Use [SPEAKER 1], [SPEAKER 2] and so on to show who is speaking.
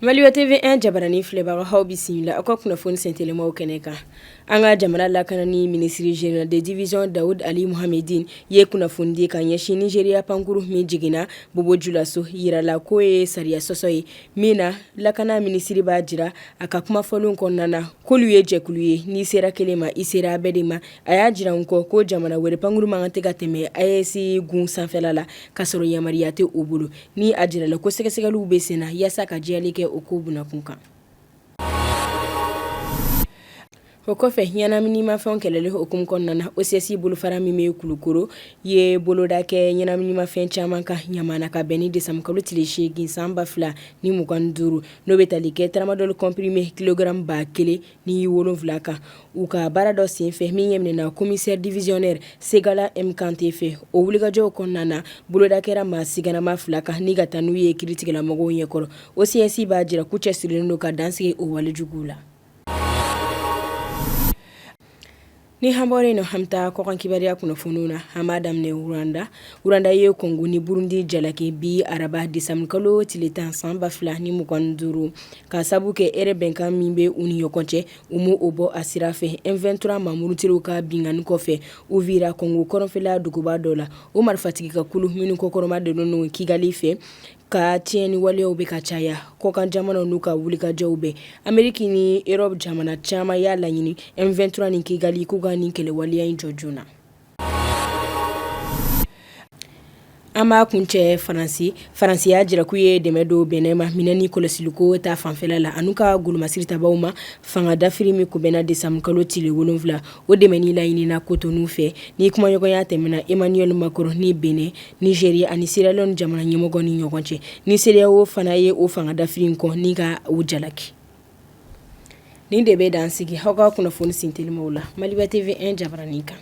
[SPEAKER 1] Maliba TV1 jabaranin filɛbagaw aw bisimila aw ka kunnafoni sentelimaw kɛnɛ kan an ka jamana lakanani minisiri général de division Daoud Ali Mohammedine ye kunnafoni di ka ɲɛsin Nigeria pankurun min jiginna Bobo Julaso jirala k'o ye sariya sɔsɔ ye min na lakana minisiri b'a jira a ka kuma fɔlen kɔnɔna na k'olu ye jɛkulu ye n'i sera kelen ma i sera a bɛɛ de ma a y'a jira n kɔ ko jamana wɛrɛ pankurun man kan tɛ ka tɛmɛ AES gun sanfɛla la ka sɔrɔ yamaruya tɛ o bolo ni a jirala ko sɛgɛsɛgɛliw bɛ sen na yaasa ka jɛyali kɛ o ko bunakun kan o kɔfɛ ɲɛnaminimafɛnw kɛlɛli hukumu kɔnɔna na OCS bolofara min bɛ Kulukoro ye boloda kɛ ɲɛnaminimafɛn caman kan ɲamana ka bɛn ni décembre kalo tile 8 san 2025 n'o bɛ tali kɛ tramadol comprimé kilogramme 1000 ni wolonwula kan. u ka baara dɔ senfɛ min ɲɛminɛna commissaire divisionnaire Segala M Kante fɛ o wulikajɔw kɔnɔna na boloda kɛra maa siganama fila kan ni ka taa n'u ye kiiritigɛlamɔgɔw ɲɛkɔrɔ OCS b'a jira k'u cɛsirilen don ka dansigi o walejuguw la ni an bɔra o la an bɛ taa kɔkan kibaruya kunnafoniw na an b'a daminɛ Rwanda Rwanda ye Kɔngo ni burundi jalaki bi araba décembre kalo tile tan san ba fila ni mugan duuru ka sabu kɛ hɛrɛ bɛnkan min bɛ u ni ɲɔgɔn cɛ U ma o bɔ a sira fɛ M23 maa murutilenw ka binkanni kɔfɛ Uvira kɔngo kɔrɔnfɛla duguba dɔ la o marifatigi ka kulu minnu kɔkɔrɔmadonnen Kigali fɛ ka tiɲɛni waleyaw bɛ ka caya kɔkan jamanaw n'u ka wulikajɔw bɛɛ Ameriki ni Erɔpu jamana caman y'a laɲini M23 ni kigali k'u ka nin kɛlɛwaleya in jɔ joona An b'a kuncɛ Faransi Faransi y'a jira k'u ye dɛmɛ don Benin ma minɛn ni kɔlɔsiliko ta fanfɛla la an'u ka golomasiri tabaw ma fanga dafiri min kunbɛnna décembre kalo tile wolonwula o dɛmɛni laɲinina Cotonou fɛ ni kumaɲɔgɔnya tɛmɛna Emmanuel Macron ni Benin Nigeria ani Sierra Leone jamana ɲɛmɔgɔ ni ɲɔgɔn cɛ ni CEDEAO fana ye o fanga dafiri in kɔn ni ka u jalaki Nin de bɛ dan sigi aw ka kunnafoni sentelimaw la Maliba TV1 jabaranin kan